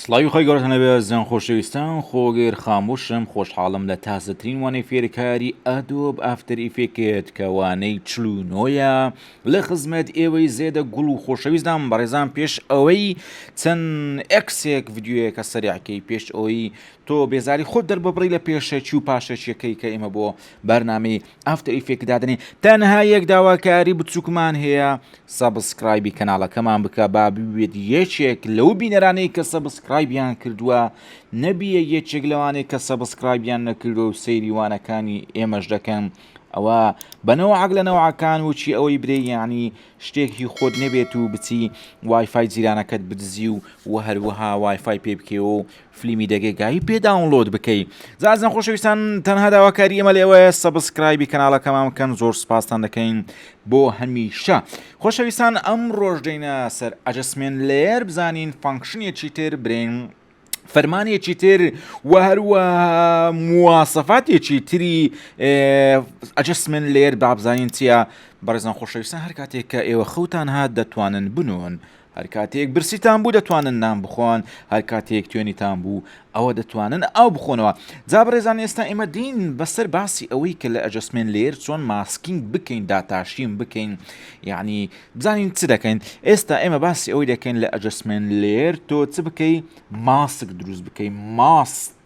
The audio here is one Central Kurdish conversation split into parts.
سڵاوی خوای گەورەتان لەبێ زان خۆشەویستان خۆگر خاموشم خۆشحاڵم لە تازەترین وانەی فێرکاری ئەدۆب ئافتەر ئیفێکێت کە وانەی چل و نۆیە لە خزمەت ئێوەی زێدە گوڵ و خۆشەویستدام بەڕێزان پێش ئەوەی چەند ئەکسێک ڤیددیویەکە سەریعکەی پێش ئەوەی تۆ بێزاری خۆت دەرببڕی لە پێشەکی و پاشەکیەکەی کە ئێمە بۆ بەرنامەی ئافتەر ئیفێک دادنی تەنها یەک داواکاری بچووکمان هەیە سەبسکرایبی کەناڵەکەمان بکە با ببیت یەکێک لەو بینەرانەی کە سەبسکرایبیان کردووە نەبیە یەکێک لەوانەی کە سەبسکرایبیان نەکردوە و سەیری وانەکانی ئێمەش دەکەن ئەوە بەنەوەعاک لە نەوەعەکان وچی ئەوەی برێ یعنی شتێک هی خۆت نەبێت و بچی وایفای جیرانەکەت بدزی و وە هەروەها وایفای پێ بکەوە و فلیمی دەگێگایی پێ داونلۆد بکەی زازن خۆشەویستان تەنها داواکاری ئێمە لێوەیە سەبسکرایبی کەناڵەکەمان بکەن زۆر سپاستان دەکەین بۆ هەمیشە خۆشەویستان ئەم ڕۆژدەینە سەر ئەجسمێن لێر بزانین فانکشنێکی تر برین فەرمانێکی تر و هەروە موواسەفاتێکی تری ئەجسمن لێر بابزانین چییە بەڕێزان خۆشەویستان هەر کاتێک کە ئێوە خەوتان هات دەتوانن بنوون هەر کاتێک برسیتان بوو دەتوانن نان بخۆن، هەر کاتێک توێنیتان بوو ئەوە دەتوانن ئاو بخۆنەوە. جا بەڕێزان ئێستا ئێمە دێین بەسەر باسی ئەوەی کە لە ئەجەسمێنت لەیەر چۆن ماسکینگ بکەین داتاشین بکەین یەعنی بزانین چ دەکەین ئێستا ئێمە باسی ئەوەی دەکەین لە ئەجەسمێنت لەیەر تۆ چ بکەی ماسک دروست بکەی ماست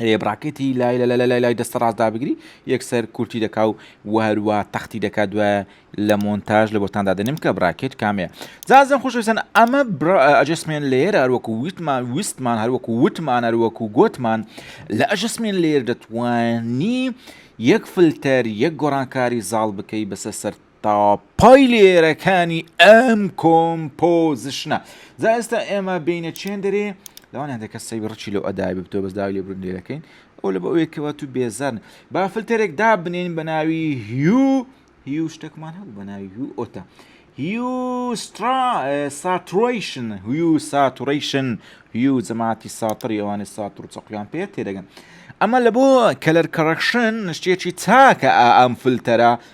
رێبڕاکێتی لای لە لە لای دەستە ڕاستدا بگری یەکسەر کورتی دەکا و وهروە تەختی دەکا دوای لە مۆنتاژ لە بۆتاندا دەنم کە براکێت کامێ زازم خوشویستن ئەمە ئەجسمێن لێر هەروەکو ویتمان ویستمان هەروەکو وتمان هەروەکو گوتمان لە ئەجسمێن لێر دەتوانی یەک فلتەر یەک گۆڕانکاری زاڵ بکەی بەسە سەر تا پای لێرەکانی ئەم کۆمپۆزشنە جا ئێستا ئێمە بینە چێن دەرێ لەوان هەندێکە سەوی ڕچی لەو ئەدای بتۆ بەس داوای لێ برون لێرەکەین ئەو لە بە ئەوەیەکەوە تو بێزارن با فلتەرێک دا بنێن بە ناوی هیو هیو شتێکمان هەبوو بە ناوی هیو ئۆتە هیو سترا ساتڕیشن هیو ساتڕیشن هیو جەماتی ساتری ئەوانە ساتر و چەقیان پێ تێدەگەن ئەمە لە بۆ کەلەر کەڕەکشن شتێکی چاکە ئا ئەم فلتەرە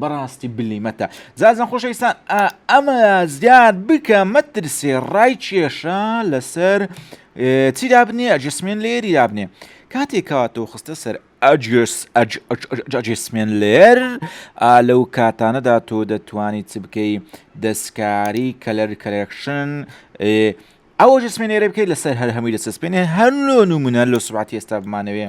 بەڕاستی بلیمەتە زازم خۆشەویستان ئەمە زیاد بکە مەترسێ ڕای کێشە لەسەر چی دابنێ ئەجسمێن لێری دابنێ کاتێک کاتەوە خستە سەر ئەجسمێن لێر لەو کاتانەدا تۆ دەتوانی چ بکەی دەستکاری کەلەر کەلەکشن ئەوە جسمێنێرە بکەیت لەسەر هەر هەمووی لە سسپێنێ هەر لۆ نمونە لە سوباتی ئێستا بمانەوێ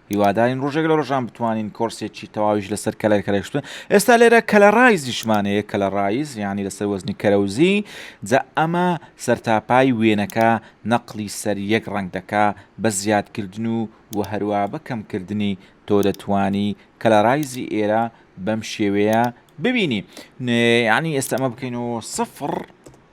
هیوادارین ڕۆژێک لە ڕۆژان بتوانین کۆرسێکی تەواویش لەسەر کەلەر کەرەشتن ئێستا لێرە کەلەڕایزیشمان هەیە کەلەڕایز یانی لەسەر وەزنی کەرەوزی جا ئەمە سەرتاپای وێنەکە نەقلی سەر یەک ڕەنگ دەکا بە زیادکردن و و هەروە بە کەمکردنی تۆ دەتوانی کەلەڕایزی ئێرە بەم شێوەیە ببینی یانی ئێستا ئەمە بکەین و سفڕ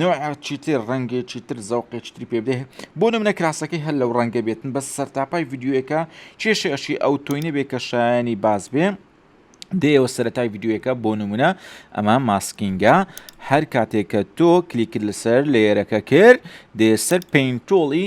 نەوعێکی تر ڕەنگێکی تر زەوقێکی تری پێ بدەێ بۆ نمونە کراسەکەی هەر لەو ڕەنگە بێتن بەس سەرتاپای یددیوەکە کێشەشی ئەو تۆی نەبێ کە شایانی باز بێ دێەوە سەرەتای یددیوەکە بۆ نمونە ئەمە ماسکینگە هەر کاتێکە تۆ کلیکرد لەسەر لێرەکە کرد دێ سەر پینتۆڵی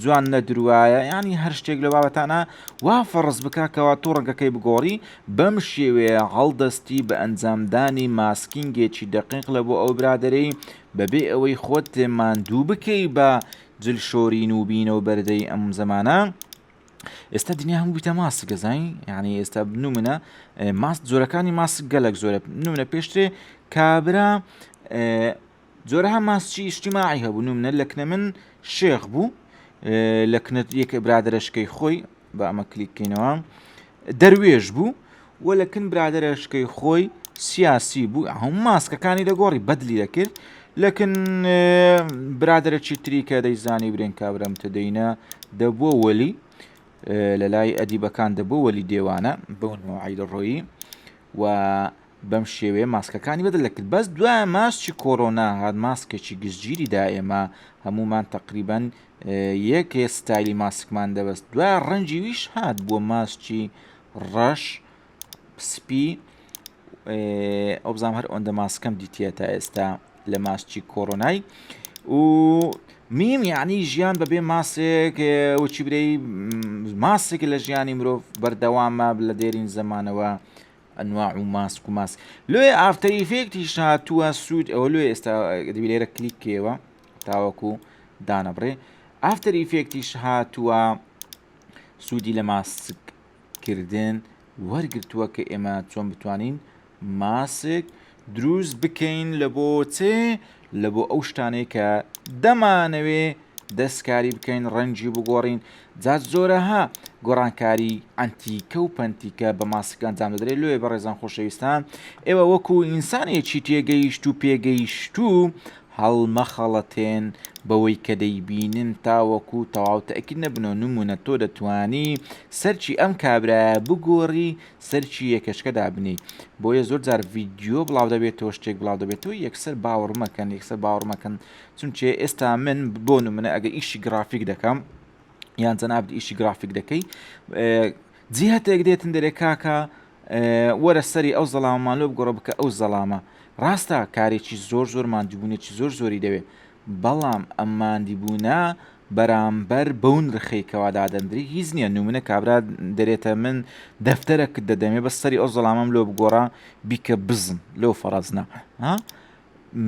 جوان نەدروایە یانی هەر شتێک لەو بابەتانە وا فەڕز بکا کەوا تۆ ڕەگەکەی بگۆڕی بەم شێوەیە هەڵدەستی بە ئەنجامدانی ماسکینگێکی دەقیق لە بۆ ئەو برادەرەی بەبێ ئەوەی خۆت ماندوو بکەی بە جل شۆرین و بینە و بەردەی ئەم زەمانە ئێستا دنیا هەموو بیتە ماسک گەزین یعنی ئێستا بنومنە ماست جۆرەکانی ماسک گەلک زۆرە بنومنە پێشترێ کابرا جۆرەها ماسچی ئیشتیماعی هەبوو نمنە لە کنە من شێخ بوو لە کنە یەکە برادرەشکەی خۆی بە ئەمە کلیککەینەوە دەروێش بوو و لە کن برادرەشکەی خۆی سیاسی بوو هەم ماسکەکانی دەگۆڕی بەدلی دەکرد لەکن برادرە چیتری کە دەیزانی برێن کابرم تدەینە دەبووە وەلی لە لای ئەدیبەکان دەبوو وەلی دێوانە بەونەوە عیدڕۆیی و بەم شێوەیە ماسکەکانی بەدەل دەکرد بەس دوای ماسکی کۆرۆنا هات ماسکێکی گشتگیری دا ئێمە هەمومان تقریبا یەک ستایلی ماسکمان دەبەست دوای ڕەنجی ویش هات بۆ ماسکی ڕەش سپی ئەوبزام هەر ئەوەندە ماسکەم دیتە تا ئێستا لە ماسکی کۆرۆنای و میم یعنی ژیان بەبێ ماسێک وچی برەی ماسێک لە ژیانی مرۆڤ بەردەوامە لە دێرین زمانەوە ئەنواع و ماسک و ماسک لۆیە ئافتەر ئیفێکتیش هاتووە سوود ئەوە لۆ ئێستا دەبی لێرە کلیک کێوە تاوەکو دانەبڕێ ئافتەر ئیفێکتیش هاتووە سوودی لە ماسک کردن وەرگتووە کە ئێمە چۆن بتوانین ماسک دروست بکەین لە بۆ چێ لە بۆ ئەو شتانەی کە دەمانەوێ دەستکاری بکەین ڕەنجی بگۆڕین جا زۆرەها گۆڕانکاری ئەنتیکە و پەنتیکە بە ماسک ئەنجام دەدرێت لێ بەڕێزان خۆشەویستان ئێوە وەکو ئینسانێکی تێگەیشت و پێگەیشت و هەڵمەخەڵەتێن بەوەی کە دەیبینن تاوەکو تەواو تەکی نەبنەوە نمونە تۆ دەتانی سەرچی ئەم کابراە بگۆڕی سەرکی یەکەچکە دابنێی بۆیە زۆر جار ڤیددیو بڵاو دەبێتەوە شتێک بڵاو دەبێتەوە یەکسەر باوەڕمەکەن یەکسەر باوەڕمەکەن چونچێ ئێستا من بۆ منە ئەگە ئیشی گرافیک دەکەم یان جەنابت ئیشی گرافیک دەکەی جیهتێک دێتن دەرێ کاکە وەرە سەری ئەو زەڵاممان لۆ بگۆڕە بکە ئەو زەڵامە ڕاستە کارێکی زۆر زۆر مادیبوونێکی زۆر زۆری دەوێت بەڵام ئەم ماندیبوونە بەرامبەر بەو نرخەی کەوا دادەندری هیچ نیە نمونە کابرا دەرێتە من دەفتەرەکت دەدەمێ بەس سەری ئەو زەڵامەم لۆ بگۆڕا بیکە بزن لۆ فەڕەزنا ها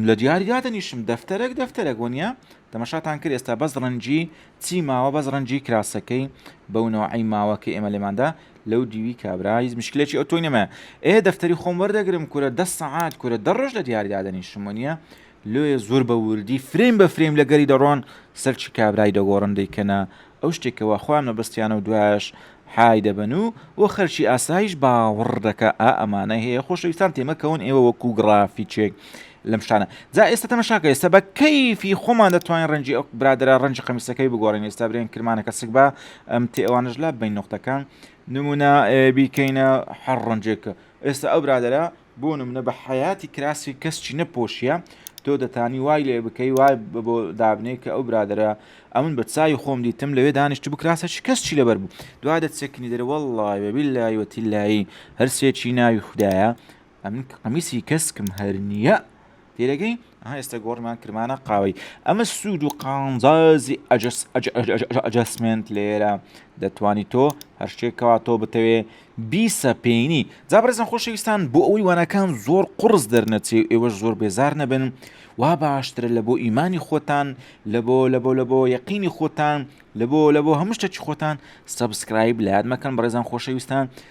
لە دیاری دادەنیشم دەفتەرەک دەفتەرەک وەنیە تەمەشاتان کرد ئێستا بەس ڕەنجی چی ماوە بەس ڕەنجی کراسەکەی بەونەوەعی ماوە کە ئێمە لێماندا لەو دیوی کابرا هیچ مشکلێکی ئەو تۆی نەمە ئێ دەفتەری خۆم وەردەگرم کورە دە سەعات کورە دە ڕۆژ لە دیاریدادنی شمۆنیە لۆیە زۆر بە ووردی فرەیم بە فرەیم لەگەری دەڕۆن سەرچی کابرای دەگۆڕن دەیکەنە ئەو شتێ کەوا خۆیان مەبەستیانە و دوایەش حای دەبەن و بۆ خەرکی ئاسایش باوڕ دەکا ئا ئەمانە هەیە خۆشەویستان تێمەکەون ئێوە وەکو گڕافیچێک لەم شتانە جا ئێستا تەمەشاکە ئێستا بە کەیفی خۆمان دەتوانین ڕەنجی ئەو برادرا ڕەنجی قەمیسەکەی بگۆڕین ئێستا برێن کرمانەکە سک بە ئەم تێ ئەوانش لا بین نقطەکان نمونە بیکەینە هەر ڕەنجێکە ئێستا ئەو برادرە بۆ نمونە بە حەیاتی کراسی کەس چی نەپۆشیە تۆ دەتانی وای لێ بکەی وای بۆ دابنێ کە ئەو برادرە ئەمن بە چاوی خۆم دیتم لەوێ دانیشت بکراسە چی کەس چی لەبەر بوو دوا دەچەکنی دەرە وەڵڵای وە بیلای وەتیلایی هەرسێکی ناوی خوددایە ئەمن قمیسی کەسکم هەر نییە تێدەگەی ها ئێستا گۆڕمان کرمانە قاوەی ئەمە سوود و قانزازی ئەجەسمنت لێرە دەتوانی تۆ هەر شتێکەوە تۆ بتەوێ بیسە پێینی جابرزن خۆشەویستان بۆ ئەوی وانەکان زۆر قڕز دەرنەچێ ئێوەش زۆر بێزار نەبن وا باشترە لە بۆ ئیمانی خۆتان لە بۆ لە بۆ لە بۆ یەقینی خۆتان لە بۆ لە بۆ هەموو شتێکی خۆتان سبسکرایب لایەت مەکەن بەڕێزان خۆشەویستان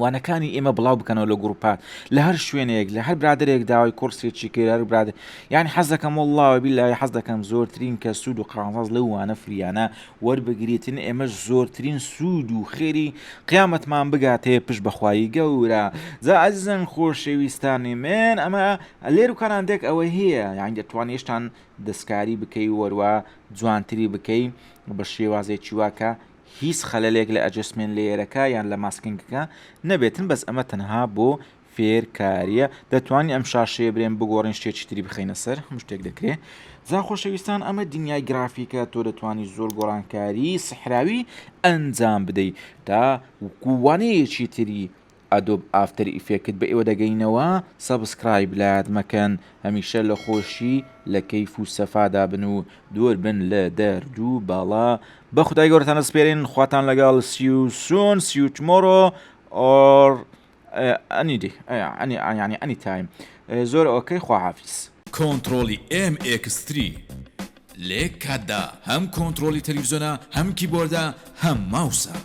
وانەکانی ئێمە بڵاو بکەنەوە لە گروپات لە هەر شوێنێک لە هەر برادێک داوای کورسێکی کرار براد یعنی حەز دەکەم والله بلا حەز دەکەم زۆرترین کە سوود و قازاز لە وانە فریانە وەربگریتن ئێمە زۆرترین سوود و خێری قیامەتمان بگاتێ پش بەخوایی گەورە جا ئەزیزن خۆشەویستانی من ئەمە لێر و کارانتێک ئەوە هەیە یان دەتوان هێشتان دەستکاری بکەی وەروە جوانتری بکەی بە شێوازێکی واکە هیچ خەلەلێک لە ئەجەسمێنت لەیەرەکە یان لە ماسکینگەکە نەبێتن بەس ئەمە تەنها بۆ فێرکاریە دەتوانین ئەم شاشەیە برێن بگۆڕین شتێکی تری بخەینە سەر هەموو شتێک دەکرێ جا خۆشەویستان ئەمە دنیای گرافیکە تۆ دەتوانی زۆر گۆڕانکاری سحراوی ئەنجام بدەی تا وانەیەکی تری ئەدۆب ئافتەر ئیفێکت بە ئێوە دەگەینەوە سەبسکرایب لایەت مەکەن هەمیشە لە خۆشی لە کەیف و سەفادا بن و دوور بن لە دەردو بەڵا بە خودای گەورەتان دەسپێرین خواتان لەگەڵ سی و سون سی و تمۆرۆ ئۆر ئەنی دی ئەنی ئەنی ئەنی تایم زۆر ئۆکەی خواحافیز. کۆنتڕۆڵی ئێم ئێکس تری. لە یەک کاتدا هەم کۆنترۆڵی تەلەفزیۆنە هەم کیبۆردە هەم ماوسە.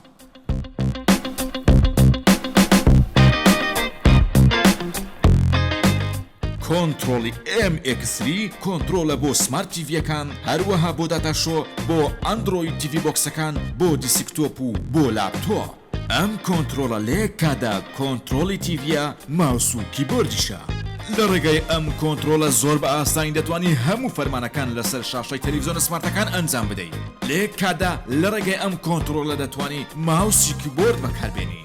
کۆنترۆڵی ئێم ئێکس سری کۆنترۆڵە بۆ سمارت تیڤییەکان هەروەها بۆ داتا شۆ بۆ ئەندرۆید تیڤی بۆکسەکان بۆ دیسکتۆپ و بۆ لاپتۆپ. ئەم کۆنترۆڵە لە یەک کاتدا کۆنترۆڵی تیڤیە ماوس و کیبۆردیشە. لە ڕێگای ئەم کۆنترۆڵە زۆر بە ئاسانی دەتوانی هەموو فەرمانەکان لەسەر شاشەی تەلەفزیۆنە سمارتەکان ئەنجام بدەی. لە یەک کاتدا لە ڕێگای ئەم کۆنترۆڵە دەتوانی ماوس و کیبۆرد بەکار بێنی.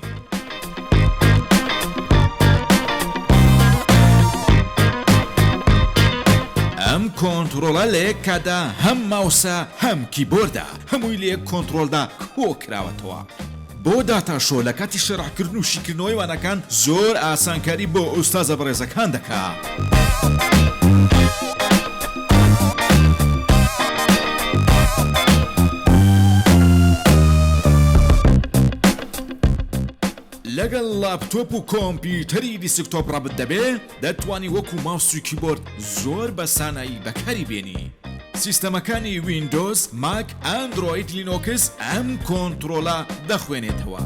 ئەم کۆنترۆڵە لە یەک کاتدا هەم ماوسە هەم کیبۆردە. هەمووی لە یەک کۆنتڕۆلدا کۆکراوەتەوە. بۆ داتا شۆ لە کاتی شەرحکردن و شیکردنەوەی وانەکان زۆر ئاسانکاری بۆ ئوستازە بەڕێزەکان دەکا. لەگەڵ لاپتۆپ و کۆمپیوتەری دیسکتۆپ ڕەبت دەبێ؟ دەتوانی وەکو ماوس و کیبۆرد زۆر بە سانایی بەکاری بێنی. سیستەمەکانی ویندۆز، ماک، ئەندرۆید، لینۆکس ئەم کۆنترۆڵە دەخوێنێتەوە.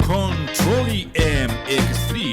کۆنترۆڵی ئێم ئێکس تری.